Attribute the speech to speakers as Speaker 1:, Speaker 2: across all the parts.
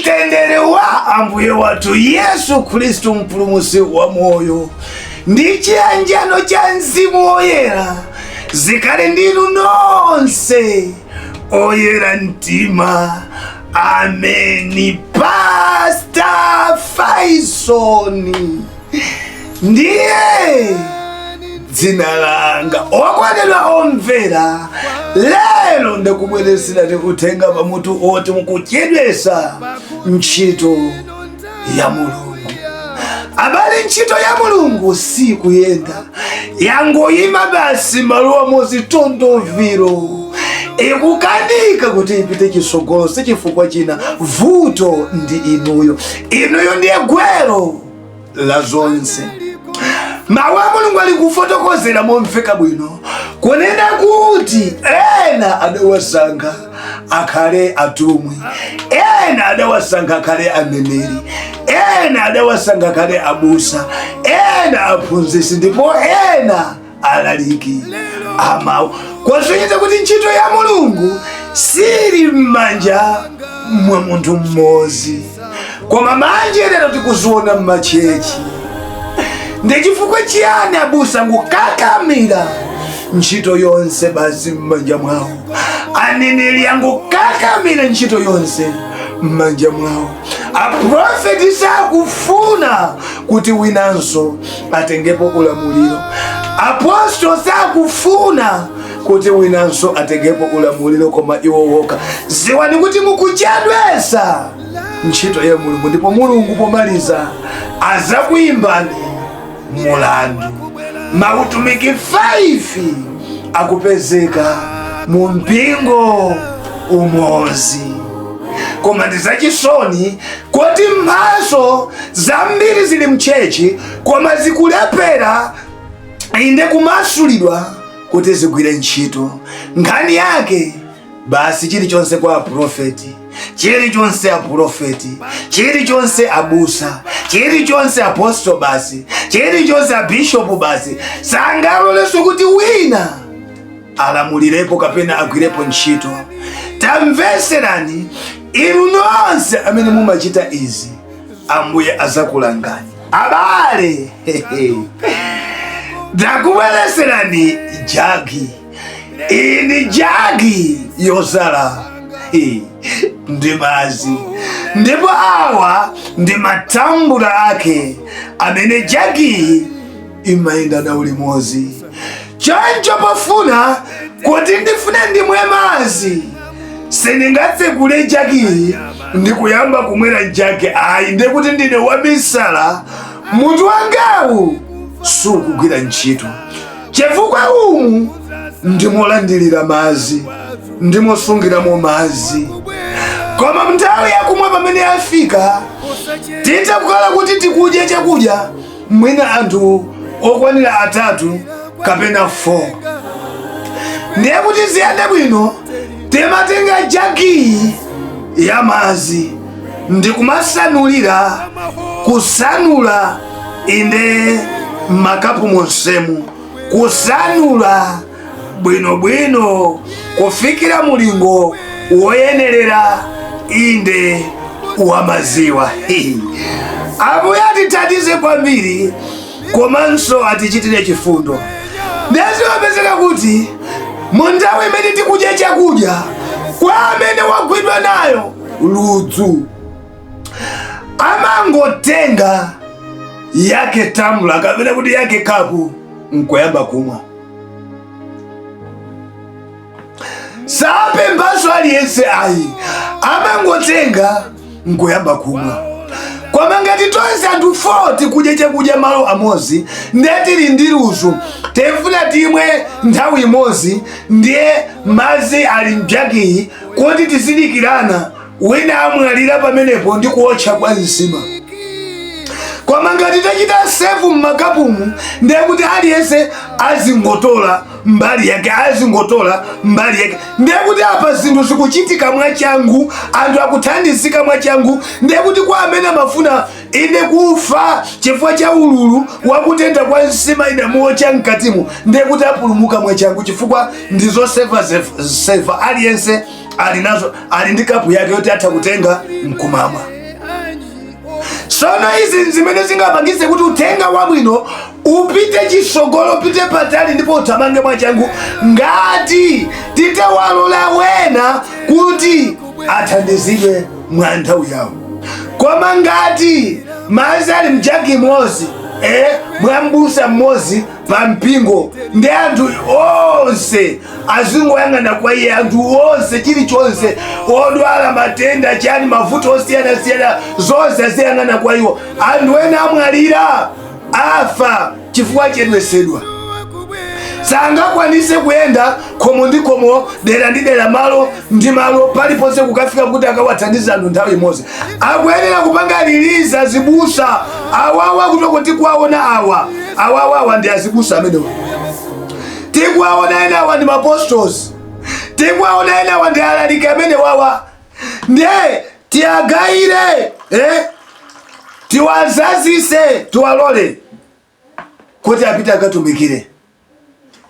Speaker 1: tendere wa ambuye wathu yesu khristu mpulumusi wa moyo ndi chiyanjano cha mzimu woyera zikhale ndinu nonse oyera mtima ameni pasta faisoni ndiye dzina langa okondedwa omvera lero ndakubweresera tikutenga pamutu oti mukuchedwesa ntchito ya mulungu abale ntchito ya mulungu sikuyenda yangoyima basi maluwa mozitondoviro ikukanika kuti ipite chisogolo sichifukwa china vuto ndi inuyo inuyo ndiye gwero la zonse mawu a mulungu ali kufotokozera momveka bwino kunena kuti ena adawasankha akhale atumwi ena adawasankha akhale aneneri ena adawasankha akhale abusa ena aphunzitsi ndipo ena alaliki amawu kusonyeza kuti ntchito ya mulungu sili m'manja mwa munthu mmodzi koma manje lero tikuziona m'machechi ndi chifukwa chiyani abusa angokakamira ntchito yonse basi m'manja mwawo aneneri angokakamira ntchito yonse m'manja mwawo aprofeti sakufuna kuti winanso atengepo ulamuliro apostolo sakufuna kuti winanso atengepo ulamuliro koma iwo woka ziwani kuti mukuchedwesa ntchito ya mulungu ndipo mulungu pomaliza azakuimbani mulandu mautumiki 5 akupezeka mu mpingo umozi koma ndi zachisoni kuti mphaso zambiri zili mchechi koma zikulephera inde kumasulidwa kuti zigwire ntchito nkhani yake basi chilichonse kwa aprofeti chilichonse aprofeti chilichonse abusa chilichonse apostolo basi chilichonse abishopu basi sangaloleso kuti wina alamulirepo kapena agwirepo ntchito tamveserani inu nonse amene mumachita izi ambuye azakulangani abale ndakubwereserani jagi iyi ndi jagi yozala ndi madzi ndipo awa ndi matambula ake amene jagiyi imayenda nawo limodzi choncho pofuna kuti ndifune ndimwe madzi sindingatsekule jagiyi ndi kuyamba kumwera jagi ayi nde kuti ndine wamisala mutu wangawu sukugwira ntchito chifukwa umu ndimolandilira mazi ndimosungiramo mazi koma nthawi yakumwa pamene yafika titha kukhala kuti tikudya chakudya mwina anthu okwanira atatu kapena 4 ndiye kuti ziyende bwino timatenga jagiyi ya mazi ndikumasanulira kusanula inde mmakapu monsemu kusanula bwinobwino kufikira mulingo woyenerera inde wa maziwa ambuye atithandize kwambiri komanso atichitire chifundo ndezimapezeka kuti mu nthawi imene tikudya chakudya kwa amene wagwidwa nayo ludzu amangotenga yake tamula kapena kuti yake kapu nkuyamba kumwa sapemphaso aliyense ayi amangotenga nkuyamba kumwa koma ngati tonse anthu 4 tikudya chakudya malo amodzi ndiye tili ndi ludzu tifuna timwe nthawi imodzi ndiye madzi ali mjagiyi kuti tizidikirana wina amwalira pamenepo ndi kuotcha kwa nsima koma ngati tachita sefu mmakapumu ndiye kuti aliyense azingotola mbali yake azingotola mbali yake ndiye kuti apa zinthu zikuchitika mwachangu anthu akuthandizika mwachangu ndiye kuti kwa amene amafuna ine kufa chifukwa cha ululu wakutentha kwa nsima idamuotcha mkatimu ndiye kuti apulumuka mwachangu chifukwa ndi zosefa sefa aliyense ali nazo ali ndi kapu yake yoti atha kutenga mkumamwa sono izi nzimene zingapangise kuti uthenga wabwino upite chisogolo upite patali ndipo uthamange mwachangu ngati titawalola wena kuti athandizidwe mwa nthawi yawo koma ngati mazi ali mjagi imodzi eh, mwa mbusa mmodzi pa mpingo ndi anthu onse azingoyang'ana kwa iye anthu onse chilichonse odwala matenda chani mavuto osiyanasiyana zonse aziyang'ana kwa iwo anthu ena amwalira afa chifukwa chedwesedwa sangakwanise kuyenda khomo ndi khomo dera ndi dera malo ndi malo paliponse kukafika kuti akawathandiza anthu nthawi imodzi akuyenera kupanga riliza azibusa awawa kuti oke tikuwaona awa awawawa ndi azibusa amenewa tikuwaona ena awa ndi maapostolo tikuwaona ena awa ndi alaliki amene wawa nde tiwagawire eh? tiwazazise tiwalole kuti apite akatumikire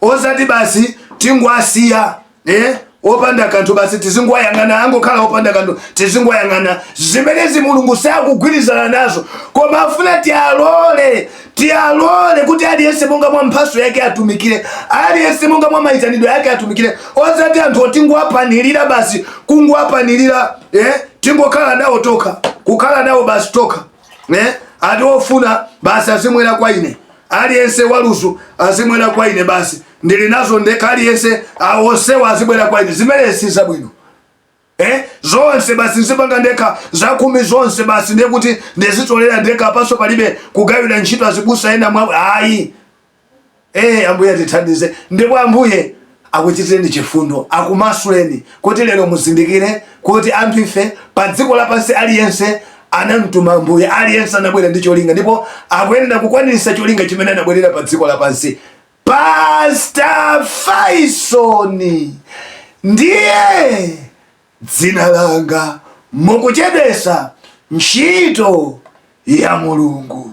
Speaker 1: osati basi tingowasiya eh? opanda kanthu basi tizingowayang'ana angokhala opanda kanthu tizingowayang'ana zimenezi mulungu sakugwirizana nazo koma afuna tialole tialole kuti aliyense monga mwa mphaso yake atumikire aliyense monga mwa mayitanidwe ake atumikire osati anthu otingowapanilira basi kungowapanilira eh? tingokhala nawo tokha kukhala nawo basi tokha eh? ati ofuna basi azimwera kwa ine aliyense wa ludzu azimwera kwa ine basi ndili nazo ndekha aliyense onsewa azibwera kwa ine zimenezo si zabwino Eh? zonse basi nzipanga ndekha zakhumi zonse basi ndekuti ndizitolera ndekha apanso palibe kugawira ntchito azibusa enawa ayi Eh, ambuye atithandize ndipo ambuye akuchitireni chifundo akumasuleni kuti lero muzindikire kuti anthu ife pa dziko lapansi aliyense anamtuma ambuye aliyense anabwera ndi cholinga ndipo akuyenera kukwaniritsa cholinga chimene anabwerera pa dziko lapansi pastor faison ndiye dzina langa mukuchedwesa ntchito ya mulungu